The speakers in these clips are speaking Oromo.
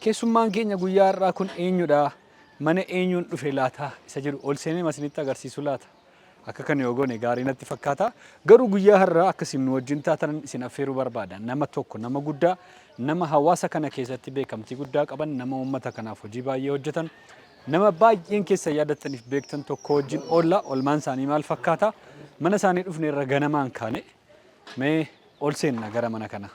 Keessummaan keenya guyyaa har'aa kun eenyudha? Mana eenyuun dhufe laata? Isa jedhu ol seenee masinitti agarsiisu laata? Akka kan yoo goone gaarii natti fakkaata. Garuu guyyaa har'aa akka isin nu wajjin taatan isin affeeruu barbaada. Nama tokko nama guddaa, nama hawaasa kana keessatti beekamtii guddaa qaban, nama uummata kanaaf hojii baay'ee hojjetan, nama baay'een keessa yaadattaniif beektan tokko wajjin oolla. Olmaan isaanii maal fakkaata? Mana isaanii dhufne irra ganamaan kaane mee ol seenna gara mana kanaa.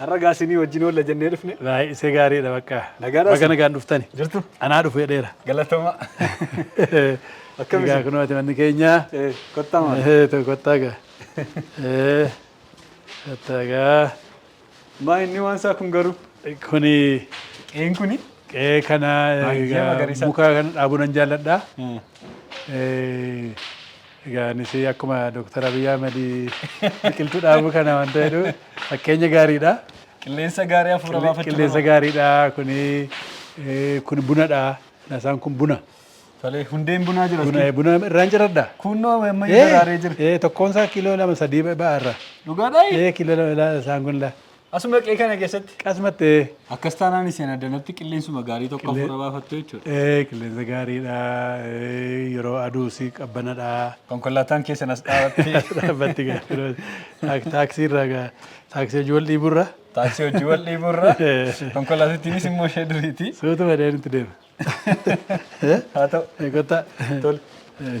Har'a gaa isinii wajjin oolla jennee dhufne. Baay'ee isa gaariidha bakka. Nagaadha Baga isin. nagaan dhuftani. Jirtu? Anaa dhufu jedheera. Galatoomaa. Akkam Egaa isin? kunoo ati manni keenya. Eh, Kottaa maal? Eh, to- Kottaa gaa. Eh, Kottaa gaa. Maa inni waan isaa kun garuu? Kuni Qeen kuni? qe'ee kana Baay'ee egaa magariisa. muka kana dhaabuu nan jaalladha. Eh, Egaa anis akkuma Dooktar Abiy Ahmed biqiltuu dhaabuu kana wanta jedhu fakkeenya gaariidha. Qilleensa gaarii hafuura baafachuu Qilleensa barbaada. gaariidha kuni eh, kun bunadha. Nasaan kun buna. Tolee, hundeen bunaa jira. Buna buna irraan jiradha. Kunnoo ammayyu daraaree jira. Eh, tokkoon isaa kiiloo lama sadii ba'arra. Dhugaadhaa? Eh, kiiloo lama ilaa isaan kun laa. Asuma qe'ee kana keessatti. Qasumatti ee. Akkas taanaan isin addanatti qilleensuma gaarii tokko Qillee- hafuura baafattu jechuudha. Ee qilleensa gaariidha. Ee, Yeroo aduu si qabbanadha. Konkolaataan keessan as dhaabattee Dhaabbatti gaaffirooti. Taaksii irraa gaa taaksii hojii wal dhiiburra taaksii hojii wal dhiiburra konkolaatittiinis immoo ishee duriiti. suutu badee nutti deema. Haa ta'u. Ee, Kottaa. Tole. Ee,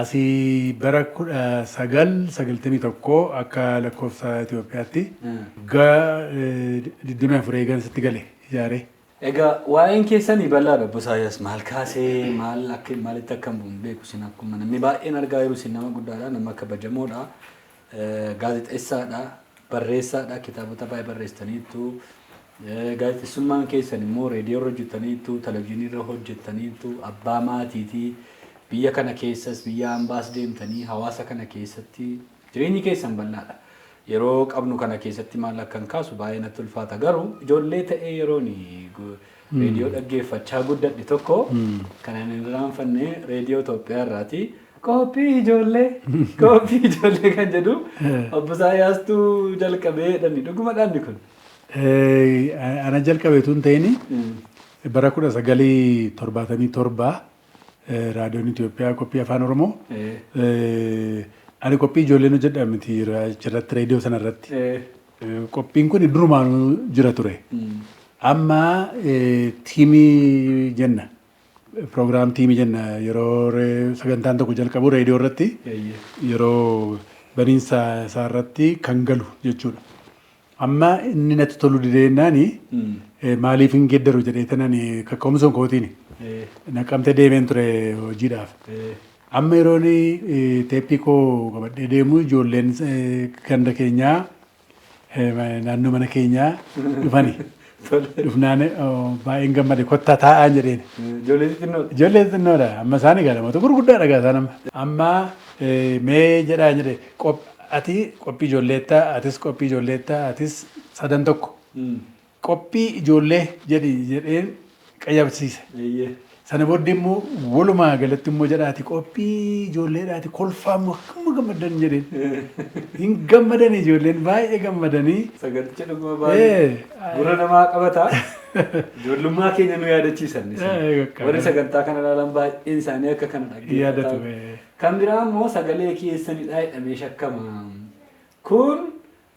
Asi bara 1991 akka lakkoofsa Itoophiyaatti wagga 24 eegan sitti gale ijaaree. Egaa waa'een keessani bal'aadha obbo Isaayyaas maal kaasee maal akka maalitti akka hin buune beeku isin akkuma namni baay'een argaa jiru isin nama guddaadha nama kabajamoodha Gaazexeessaadha, barreessaadha, kitaabota baay'ee barreessitaniittu. Gaazexessummaan keessan immoo reediyoorra hojjettaniittu, televizyiiniirra hojjettaniittu, abbaa maatiiti. Biyya kana keessas biyya ambaas deemtanii hawaasa kana keessatti jireenyi keessan bal'aadha. Yeroo qabnu kana keessatti maal akkan kaasu baay'ee natti ulfaata. Garuu ijoollee ta'ee yeroon Reediyoo dhaggeeffachaa guddadhe tokko kanan hin irraanfanne Reediyoo Itoophiyaa irraati. Qophii ijoollee! Qophii ijoollee kan jedhu obbo Isaayyaastuu jalqabee jedhani. Dhuguma dhaanni kun? Ana jalqabe tun ta'ini bara kudha sagalii torbaatamii torbaa raadiyoon Itoophiyaa qophii afaan Oromoo ani qophii ijoolleen hojjedha miti achirratti reediyoo sanarratti. Qophiin kun durumaanuu jira ture. Amma tiimii jenna. Proogiraam tiimii jenna yeroo sagantaan tokko jalqabu reediyoo irratti yeroo baniinsa isaa irratti kan galu jechuudha. Amma inni natti tolu dideennaani maaliif hin geddaru jedhee tanan kakka'umsa kootiin naqamte deemeen ture hojiidhaaf. Amma yeroon teeppii koo qabadhee deemu ijoolleen ganda keenyaa naannoo mana keenyaa dhufani. Dhufnaan baay'een gammade kottaa taa'aan jedheen. Ijoollee xixinnoodha. Ijoollee xixinnoodha. Amma isaan egaa namoota gurguddaadha egaa isaan amma. Amma mee jedhaa jedhe ati qophii ijoolleetta atis qophii ijoolleetta atis sadan tokko. Qophii ijoollee jedhi jedheen qayyabsiise. Sana booddee immoo walumaa galatti immoo jedhaati qophii ijoolleedhaati kolfaa immoo hamma gammaddan jedheen. Hin gammadan ijoolleen baay'ee gammadanii. Saganticha dhuguma baay'ee gurra namaa qabata. Ijoollummaa keenya nu yaadachiisan. Warri sagantaa kana ilaalan baay'een isaanii akka kana dhaggeeffatu. Kan biraa immoo sagalee keessanidha jedhamee shakkama. Kun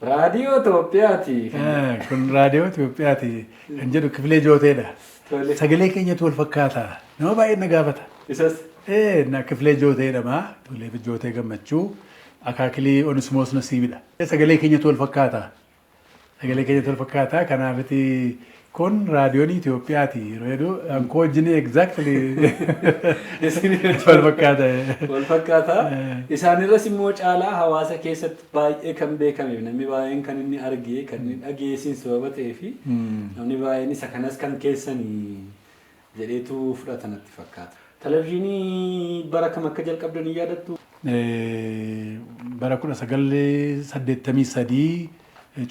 Raadiyoo Itoophiyaati. Ah, Kun raadiyoo Itoophiyaati kan jedhu kifilee jooteedha. Tole. Sagalee keenyatu wal fakkaata. Nama baay'een na gaafata. Isas. Ee, na kifilee jootee jedhama. Kifilee jootee gammachuu. Akaakilii Onismoos Nasiibidha. Sagalee keenyatu wal fakkaata. Sagalee keenyatu wal fakkaata. Kanaafiti Kun raadiyoonii Itoophiyaati. Reeduu an koo wajjinii exactly wal fakkaata. Wal fakkaata. Isaanirras immoo caalaa hawaasa keessatti baay'ee kan beekameef namni baay'een kan inni argee kan inni dhageessiin sababa ta'ee fi namni baay'een isa kanas kan keessanii jedheetu fudhata natti fakkaata. Televizhiinii bara kam akka jalqabde ni yaadattuu? Bara 1983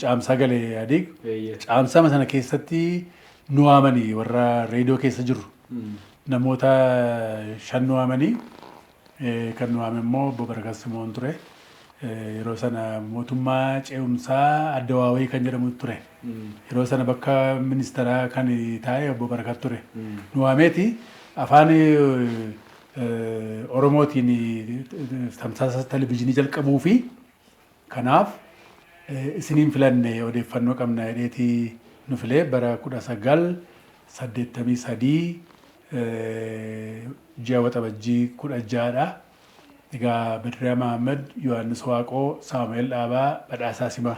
Caamsaa gale Ihadiig. Eeyyee. Caamsama sana keessatti nu waamanii warra reediyoo keessa jirru. Namoota shan nu waamanii Kan nu waame immoo Obbo Barakat Simoon ture. Yeroo sana mootummaa ce'umsaa Adda Waawee kan jedhamutu ture. Yeroo sana bakka ministeeraa kan taa'e Obbo Barakat ture. Nu waameeti afaan Oromootiin tamsaasa televizyiinii jalqabuu fi Kanaaf isin hin filanne odeeffannoo qabna jedheeti nu filee bara 1983 ji'a Waxabajjii 16 dha. Egaa Badriyaa Mahaammad, Yohaannis Waaqoo, Saamu'eel Dhaabaa, Badhaasaa Simaa.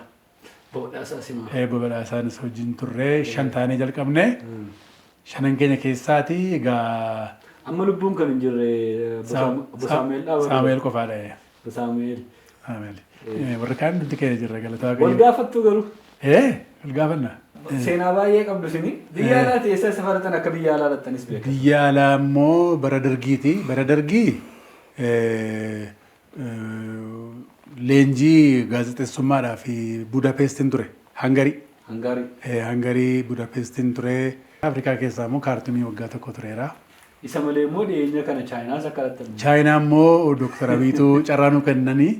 Obbo Badhaasaa Simaa. Obbo Badhaasaanis wajjin turre. Shan taanee jalqabne. Shanan keenya keessaati egaa. Amma lubbuun kan hin jirre Obbo Saamu'eel Dhaabaa. Saamu'eel qofaadha. Saamu'eel. Aameli. Eh, Warra kaan nuti keenya jirra galataa Wal Waaqayyo. gaafattuu garuu Eh, wal gaafanna. Eh, seenaa baay'ee qabdu isin biyya Eh. alaati eessa safaratan akka biyya alaa lattanis beekan. Biyya alaa immoo bara dargiiti. Bara dargii eh, eh, leenjii gaazexeessummaadhaa fi Budapestin ture. Hangarii. Hangaarii. Eh, Hangarii Budapestin ture. Afrikaa keessaa immoo kaartumii waggaa tokko tureera. Isa malee immoo dhiyeenya kana Chaayinaas akka laattan. Chaayinaa immoo Dooktar Abiyitu carraa nuu kennanii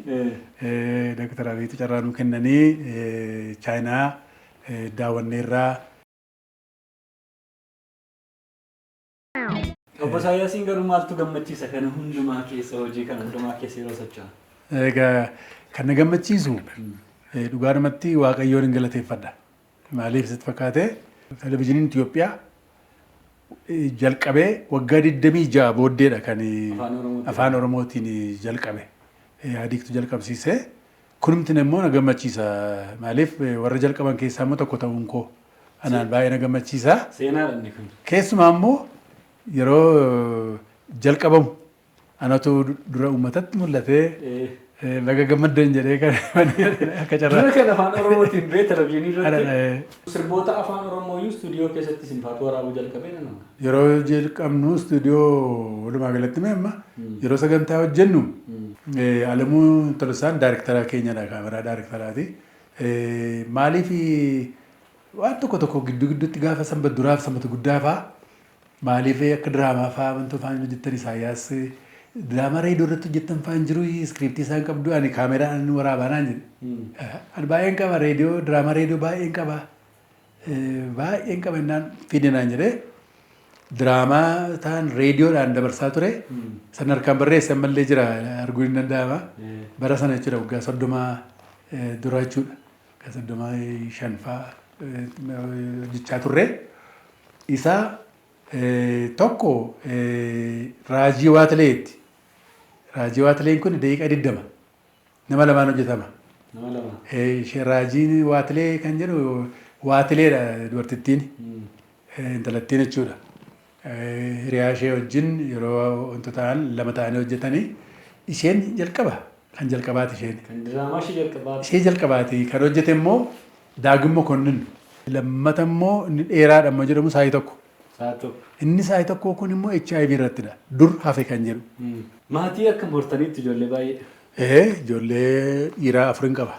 Dooktar Abiyitu carraa nuu kennanii Chaayinaa daawwanneerraa. Obbo Isaayyaasiin garuu maaltu gammachiisa kana hundumaa keessa hojii kana hundumaa keessa yeroo socho'an? Egaa kan na gammachiisu dhugaadhumatti Waaqayyoon hin galateeffadha. Maaliif sitti fakkaate? Televizhiniin Itiyoophiyaa jalqabee waggaa 26 booddeedha kan Afaan Oromootiin jalqabe. Ihaadiigtu jalqabsiise. Kunumti immoo na gammachiisa. Maaliif warra jalqaban keessaa immoo tokko ta'uun koo anaan baay'ee na gammachiisa. Seenaadha inni kun. Keessumaa immoo yeroo jalqabamu Anatu dura uummatatti mul'ate baga gammaddan jedhee kan akka carraa. Dura kan afaan Oromootiin bee televizyiinii irratti sirboota afaan Oromoo iyyuu istuudiyoo keessatti isin faatu waraabuu jalqabee nan amana. Yeroo jalqabnu istuudiyoo walumaa galatti mee amma yeroo sagantaa hojjennu Alamuu Tolosaan daariktara keenyadha kaameraa daariktaraati. Maaliif waan tokko tokko gidduu gidduutti gaafa sanbata duraaf sanbata guddaa fa'aa Maaliif akka diraamaa fa'aa wantoota fa'aa hin hojjettan Isaayyaas diraamaa reediyoo irratti hojjettan fa'aa hin jiru iskiriiptii isaa hin qabdu ani kaameraan ani waraabaa naan jedhe. Ani baay'een qaba reediyoo diraamaa reediyoo baay'een qaba baay'een qaba innaan fide naan jedhe diraamaa ta'an reediyoodhaan dabarsaa ture san harkaan barreesse ammallee jira arguun hin danda'ama bara sana jechuudha waggaa soddoma dura jechuudha. Waggaa 35 faa hojjechaa turre. Isa tokko raajii waatlee jetti. Raajii waatleen kun daqiiqaa 20 nama lamaan hojjetama. Nama lama. Ishee raajiin waatlee kan jedhu waatleedha dubartittiin. intalattiin jechuudha hiriyaa ishee wajjin yeroo wanta ta'an lama ta'anii hojjetanii isheen jalqaba kan jalqabaati isheen. Kan diraamaa ishee jalqabaati. Ishee jalqabaati kan hojjete immoo Daagim Mokonnin. Lammata immoo inni dheeraadha immoo jedhamu saayii tokko. Saayii tokko. Inni saayii tokkoo kun immoo HIV irrattidha. Dur hafe kan jedhu. Maatii akkam hortaniitti ijoollee baay'ee? Ee ijoollee dhiiraa afurin qaba.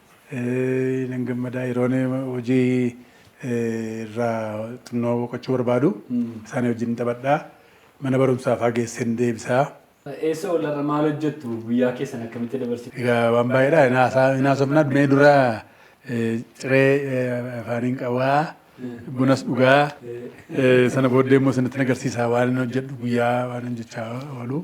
Nan gammadaa yeroon hojii irraa xinnoo boqochuu barbaadu isaanii wajjin taphadha. Mana barumsaa fa'aa geesseen deebisa. Eessa oolla irra maal hojjettu? Guyyaa keessan akkamitti dabarsitu? Egaa waan baay'eedha. Hin haasaa- hin haasofna. Mee dura eh, ciree eh, afaaniin qawaa, bunas dhugaa. Eh, Sana booddee immoo isinitti agarsiisa waan hin hojjedhu guyyaa waan hin jechaa oolu.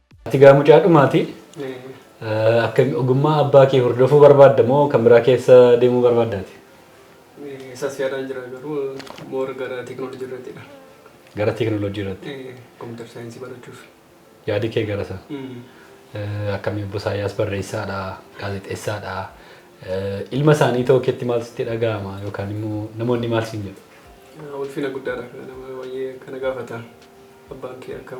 Ati gaa mucaa dhumaati. Akka ogummaa abbaa kee hordofuu barbaadda moo kan biraa keessa deemuu barbaaddaati? Isas yaadaan jira garuu moora gara teekinooloojii irrattidha. Gara teekinooloojii irratti. Kompiitar saayinsii barachuuf. Yaadi kee gara isaa. Akkamii obbo Isaayyaas barreessaadha, gaazexeessaadha. Ilma isaanii ta'uu keetti maal sitti dhaga'ama yookaan immoo namoonni maal siin jedhu? Ulfina guddaadha kana nama baay'ee kana gaafata. Abbaan kee akkam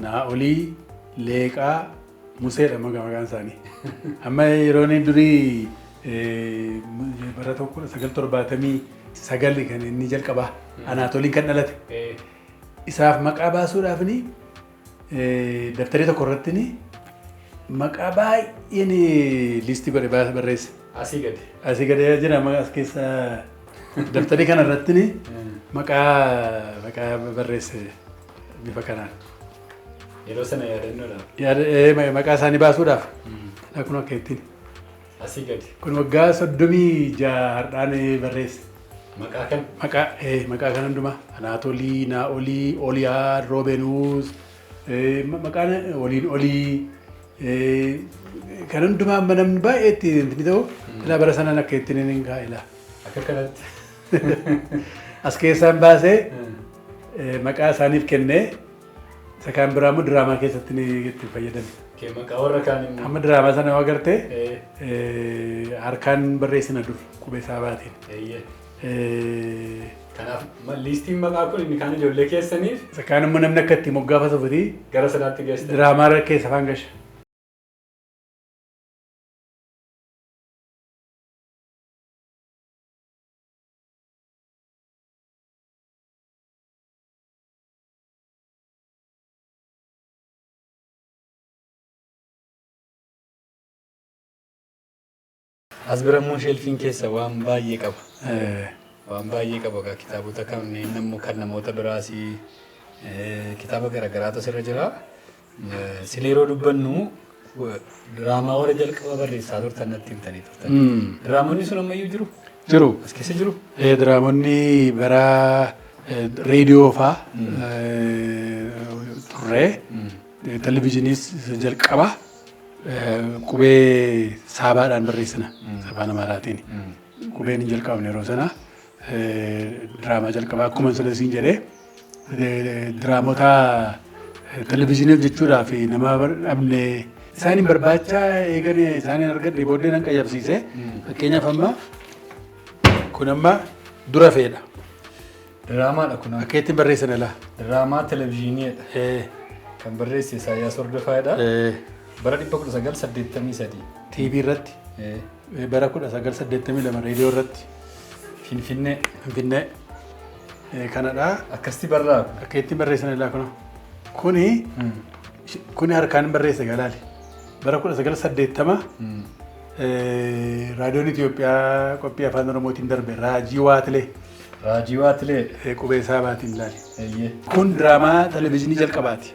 Naa'olii, Leeqaa, Museedha maga maqaan isaanii. Amma yeroon durii eh, bara tokko kudha sagal torbaatamii sagali kan inni jalqabaa Anaatoliin kan dhalate. Eh, Isaaf maqaa baasuudhaaf ni eh, dabtaree tokko irratti ni maqaa baay'ee ni liistii godhe baas- barreesse. Asii gadi. Asii gadi jira maqaa as keessa dabtaree kana irratti ni maqaa maqaa barreesse. Bifa kanaan. Yeroo sana yaadannoodha. Yaada ee, ma- maqaa isaanii baasuudhaaf. Dha kun akka ittiin. Asii gadi. Kun waggaa soddomii ja'a har'aan ee, barreesse. Maqaa kan Maqaa ee, maqaa kan hundumaa. Anaatolii, Naa'olii, Oliyaa, Roobenuus. ee, ma- Maqaan waliin olii. ee, Kan hundumaa amma namni baay'ee itti inni ta'u. Ilaa bara sanaan akka ittiin inni hin kaa'e ilaa. akka kanatti. As keessaan baasee maqaa isaaniif kennee isa kaan biraa immoo diraamaa keessatti ni itti fayyadame. Kee maqaa warra kaan immoo. Amma diraamaa sana yoo agarte Ee, harkaan barreessina dur qubee isaa baatiin. eeyyee. Ee, Kanaaf ma- liistiin maqaa kun inni kaan ijoollee keessaniif Isa kaan immoo namni akka itti moggaafatu fiti gara sanaatti geessa. diraamaa irra keessa afaan gasha. As bira immoo sheelfiin keessa waan baay'ee qaba. Waan baay'ee qaba egaa kitaabota kanneen immoo kan namoota biraas kitaaba garaagaraatu asirra jira. Sila yeroo dubbannu diraamaa warra jalqaba barreessaa turtan natti himtanii turtan. Diraamonni sun ammayyuu jiru? Jiru. As keessa jiru? Eh, Diraamonni bara eh, reediyoo faa eh, turre. Eh, Televizyiiniis isa jalqaba eh, qubee saabaadhaan barreessina afaan Amaaraatiin. Qubeen hin jalqabne yeroo sana Diraamaa jalqabaa akkuma sila siin jedhe diraamoota televizyiinii hojjechuudhaa fi nama dhabne isaan hin barbaacha eegan isaan hin argadhe booddee nan qayyabsiise fakkeenyaaf amma kun amma dura feedha. Diraamaadha kun. Akka ittiin barreessan ilaa. Diraamaa televizyiiniidha. Kan barreesse Isaayyaas Hordofaadha. Bara 1983. TV irratti. Bara 1982 reediyoo irratti. Finfinnee. Finfinnee. Eh, Kanadha. Akkasitti barraa. Akka ittiin barreessan ilaa kunoo. Kuni sh- kuni harkaan hin barreesse galaali. Bara 1980 eh, raadiyoon Itoophiyaa qophii afaan Oromootiin darbe raajii waatilee Raajii waatilee. eh, qubee isaa baatiin ilaali. Eeyyee. Kun diraamaa televizyiinii jalqabaati.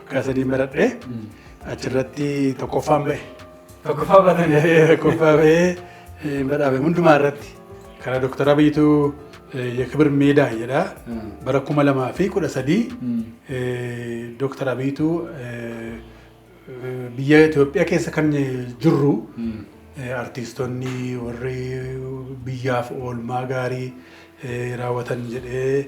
Waggaa sadiin baradhe achirratti tokkoffaan bahe. Tokkoffaa baatan. Tokkoffaa bahee eh, badhaafame hundumaa irratti kana Dooktar Abiyitu Yakibir Meedaa jedha. Bara kuma lamaa fi kudha sadii Dooktar Abiyitu eh, eh, biyya Itoophiyaa keessa kan jirru eh, artiistonni warri biyyaaf oolmaa gaarii eh, raawwatan jedhee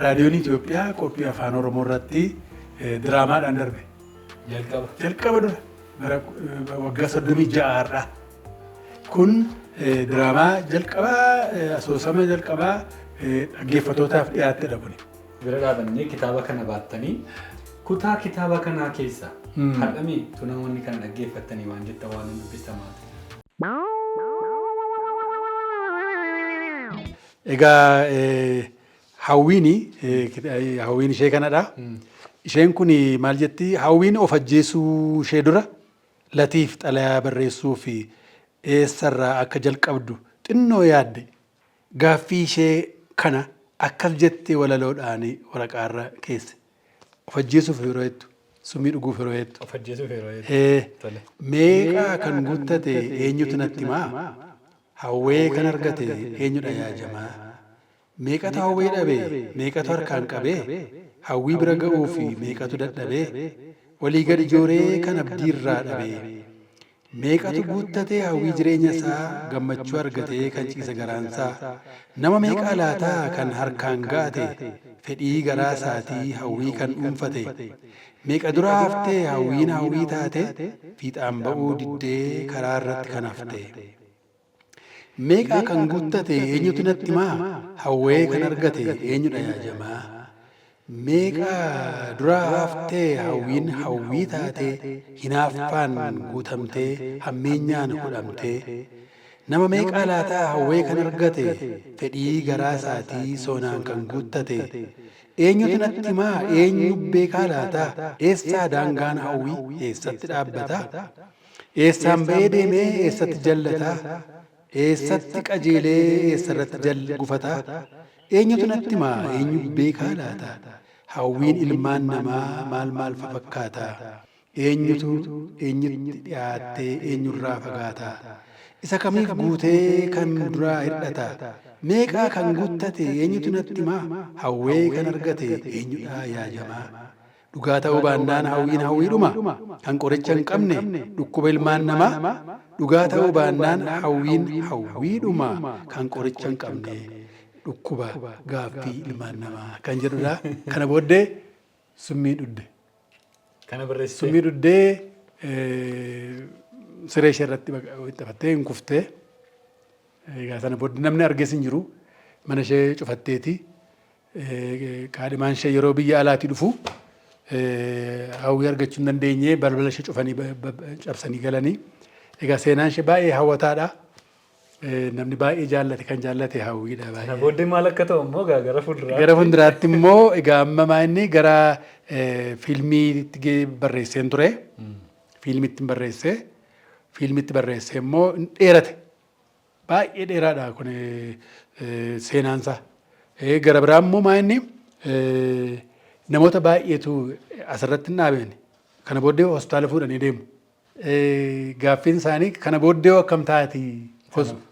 Raadiyoon Itoophiyaa qophii Afaan Oromoo irratti diraamaadhaan darbe. Jalqaba. Jalqaba dura bara waggaa soddomii ja'a har'aa. Kun diraamaa jalqabaa asoosama jalqabaa dhaggeeffatootaaf dhiyaattedha kuni. Bira dhaabannee kitaaba kana baattanii kutaa kitaaba kanaa keessaa har'amee tu namoonni kana dhaggeeffattanii waan jettan waan hin dubbistan maal ta'e? Egaa Hawwiin hawwiin ishee kanadha. Isheen kun maal jetti? Hawwiin of ajjeesuu ishee dura Latiif xalayaa barreessuu fi eessarraa akka jalqabdu xinnoo yaadde. Gaaffii ishee kana akkas jettee walaloodhaan waraqaarra keesse. Of ajjeesuuf yeroo hedduu. Summii dhuguuf yeroo hedduu. Of ajjeesuuf yeroo hedduu. Ee, Tole. meeqaa kan guttate eenyutu natti himaa? Hawwee kan argate eenyudha yaa jamaa? Meeqatu hawwee dhabe, meeqatu harkaan qabee? Hawwii bira ga'uuf meeqatu dadhabee? Olii gadi jooree kan abdiirraa dhabee? Meeqatu guuttatee hawwii jireenya isaa Gammachuu argatee kan ciise garaan isaa Nama meeqaa laata kan harkaan ga'ate Fedhii garaa isaatii hawwii kan dhuunfate Meeqa dura haftee hawwiin hawwii taate Fiixaan ba'uu diddee karaa irratti kan hafte. Meeqaa kan guttate eenyutu natti himaa Hawwee kan argate eenyudha yaa jamaa Meeqaa duraa haftee hawwiin hawwii taatee Hinaaffaan guutamtee hammeenyaan hudhamtee Nama meeqaa laataa hawwee kan argate Fedhii garaa isaatii soonaan kan guuttate Eenyutu natti himaa eenyu beekaa laataa Eessaa daangaan hawwii eessatti dhaabbataa? Eessaan ba'ee deemee eessatti jallata? Eessatti qajeelee eessarratti jal gufata? Eenyutu natti hima eenyu beekaa laata? Hawwiin ilmaan namaa maal maal fa fakkaata? Eenyutu eenyutti dhiyaattee eenyurraa fagaata? Isa kamiif guutee kan duraa hir'ata? Meeqaa kan guttate eenyutu natti hima? Hawwee kan argate eenyudhaa yaa jamaa? Dhugaa ta'uu baannaan hawwiin hawwiidhuma, kan qoricha hin qabne, dhukkuba ilmaan namaa, Dhugaa ta'uu baannaan hawwiin hawwiidhuma, kan qoricha hin qabne, dhukkuba, gaaffii, ilmaan namaa kan jedhudha. Kana booddee summii dhudde. Kana barreessitee. Summii dhuddee eh, siree ishee irratti baqa- wixxifattee hin kuftee. Egaa sana booddee namni arges hin jiru. Mana ishee cufatteeti. Kaadhimaan ishee yeroo biyya alaatii dhufu hawwii argachuu hin dandeenye balbala ishee cufanii cabsanii galanii. Egaa seenaan ishee baay'ee hawwataadha. Namni baay'ee jaallate kan jaallate hawwiidha baay'ee. Kana booddee maal akka ta'u immoo egaa gara fuulduraatti. Gara fuulduraatti immoo egaa amma maa inni gara fiilmiitti barreesseen ture. Fiilmiitti barreessee fiilmiitti barreessee immoo dheerate. Baay'ee dheeraadha kun seenaan isaa. Gara biraa immoo maa inni namoota baay'eetu asirratti hin dhaabeen kana booddee hospitaala fuudhanii deemu. Gaaffiin isaanii kana booddee akkam taati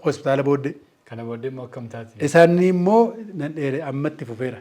hospitaala booddee. Kana booddee immoo akkam taati. Isaanii immoo nan dheere ammatti fufeera.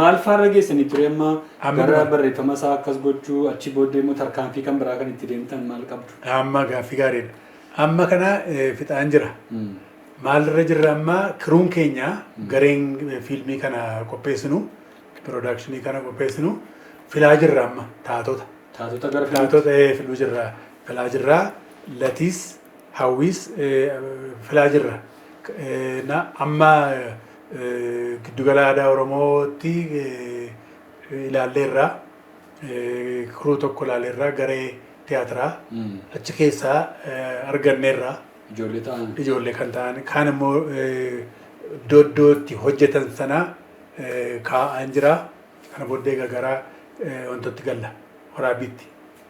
Maal faarra geessanii ture amma Amma gara dura. barreeffama isaa akkas gochuu achi booddee immoo tarkaanfii kan biraa kan itti deemtan maal qabdu? Amma gaaffii gaariidha. Amma kana eh, fixaan jira. Mm. Maalirra jirra amma kiruun keenya gareen eh, fiilmii kana qopheessinu, piroodakshinii kana qopheessinu filaa jirra amma taatota. Taatota gara filmaatti. Taatota eh, filuu jirra. Filaa jirra. Latiis hawwiis filaa jirra. Amma Giddugala Aadaa Oromootti ilaalleerra. Crew tokko ilaalleerra, garee tiyaatiraa. Achi keessaa arganneerra. Ijoollee ta'an. Ijoollee kan ta'an. Kaan immoo iddoo iddoo itti hojjetan sana kaa'aan jira. Kana booddee egaa gara wantootti galla. Waraabbiitti.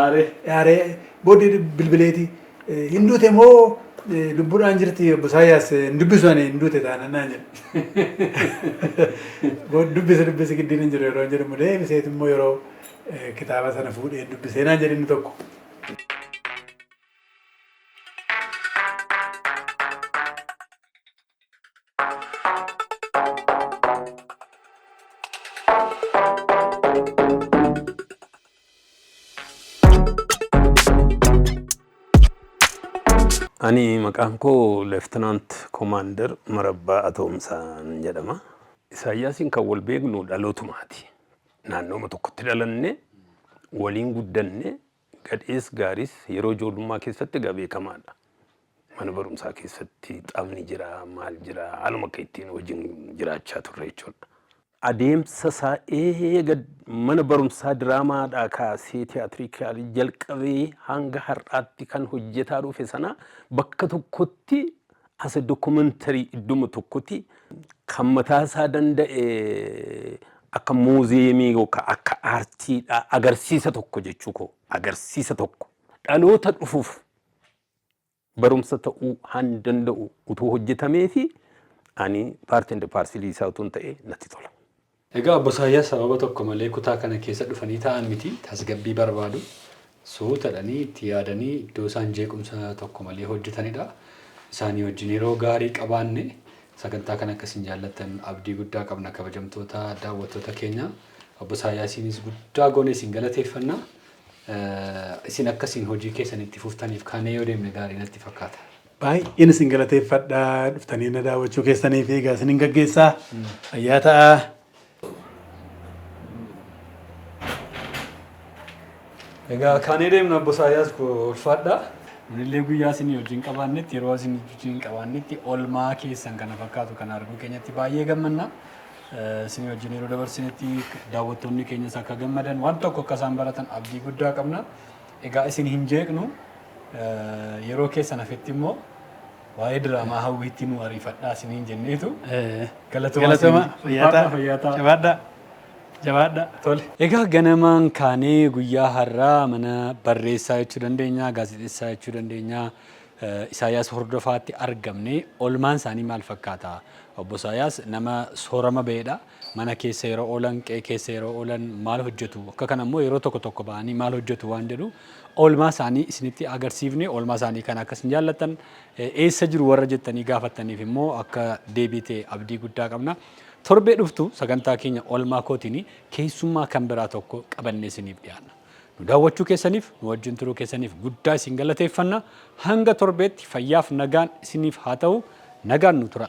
Aaree. Aaree booddee bilbileeti hin duute moo lubbuudhaan jirti obbo Isaayyaas hin dubbisu ani hin duute taana naan jedhe. Dubbisi dubbisi giddiin hin jiru yeroo hin jedhamu deebiseetu immoo yeroo kitaaba sana fuudhee dubbisee naan jedhe inni tokko. Ani maqaan koo Leeftinaant Komaandar Marabbaa Atoomsaan jedhama. Isaayyaasiin kan wal beeknu dhalootumaati. Naannooma tokkotti dhalanne, waliin guddanne, Gadhees gaariis yeroo ijoollummaa keessatti egaa beekamaadha. Mana barumsaa keessatti taphni jira, maal jira haaluma akka ittiin wajjin jiraachaa turre jechuudha. Adeemsa isaa eega mana barumsaa diraamaadhaa kaasee tiyaatirikaalii jalqabee hanga har'aatti kan hojjetaa dhufe sana bakka tokkotti As a documentary iddoma tokkotti kan mataa isaa danda'e akka muuziyeemii yookaan akka aartiidha agarsiisa tokko jechuu koo agarsiisa tokko dhaloota dhufuuf barumsa ta'uu han danda'u utuu hojjetamee fi ani paartii inda paarsilii isaa utuun ta'e natti tola. Egaa Obbo Isaayyaas sababa tokko malee kutaa kana keessa dhufanii taa'an miti, tasgabbii barbaadu. Suuta jedhanii itti yaadanii iddoo isaan jeequmsa tokko malee hojjetanidha. Isaanii wajjin yeroo gaarii qabaanne. Sagantaa kana akka isin jaallattan abdii guddaa qabna kabajamtoota daawwattoota keenya. Obbo Isaayyaasiinis guddaa goone isin galateeffanna. Isin akka isin hojii keessan itti fuftaniif kaanee yoo deemne gaarii natti fakkaata. Baay'een isin galateeffadha dhuftanii na daawwachuu keessanii fi egaa isinin gaggeessa fayyaa ta'aa. Egaa kaanee deemna obbo Isaayyaas koo ulfaadha. Nunillee guyyaa isin wajjin qabaannetti yeroo isin wajjin qabaannetti olmaa keessan kana fakkaatu kana arguu keenyatti baay'ee gammanna. Isin wajjin yeroo dabarsinetti daawwattoonni keenyas akka gammadan waan tokko akka isaan baratan abdii guddaa qabna. Egaa isin hin jeeqnu. Yeroo keessan hafetti immoo waa'ee diraamaa hawwiitti nu ariifadhaa isiniin jenneetu galatomaa Galatoma isiniin- fayyaa Ulfaadhaa, fayyaa ta'a. Jabaadhaa. Jabaadhaa. Tole. Egaa ganamaan kaanee guyyaa har'aa mana barreessaa jechuu dandeenya, gaazexessaa jechuu dandeenya, eh, Isaayyaas Hordofaatti argamne. Olmaan isaanii maal fakkaata? Obbo Isaayyaas nama soorama ba'edha. Mana keessa yeroo oolan, qe'ee keessa yeroo oolan maal hojjetu? Akka kana immoo yeroo tokko tokko ba'anii maal hojjetu waan jedhu oolmaa isaanii isinitti agarsiifne oolmaa isaanii kana akka isin jaallattan eessa jiru warra jettanii gaafattaniif immoo akka deebii ta'e abdii guddaa qabna. Torbee dhuftu sagantaa keenya oolmaa kootiin keessummaa kan biraa tokko qabannee isiniif dhiyaanna. Nu daawwachuu keessaniif, nu wajjin turuu keessaniif guddaa isin galateeffanna. Hanga torbeetti fayyaaf nagaan isiniif haa ta'u. Nagaan nu tura.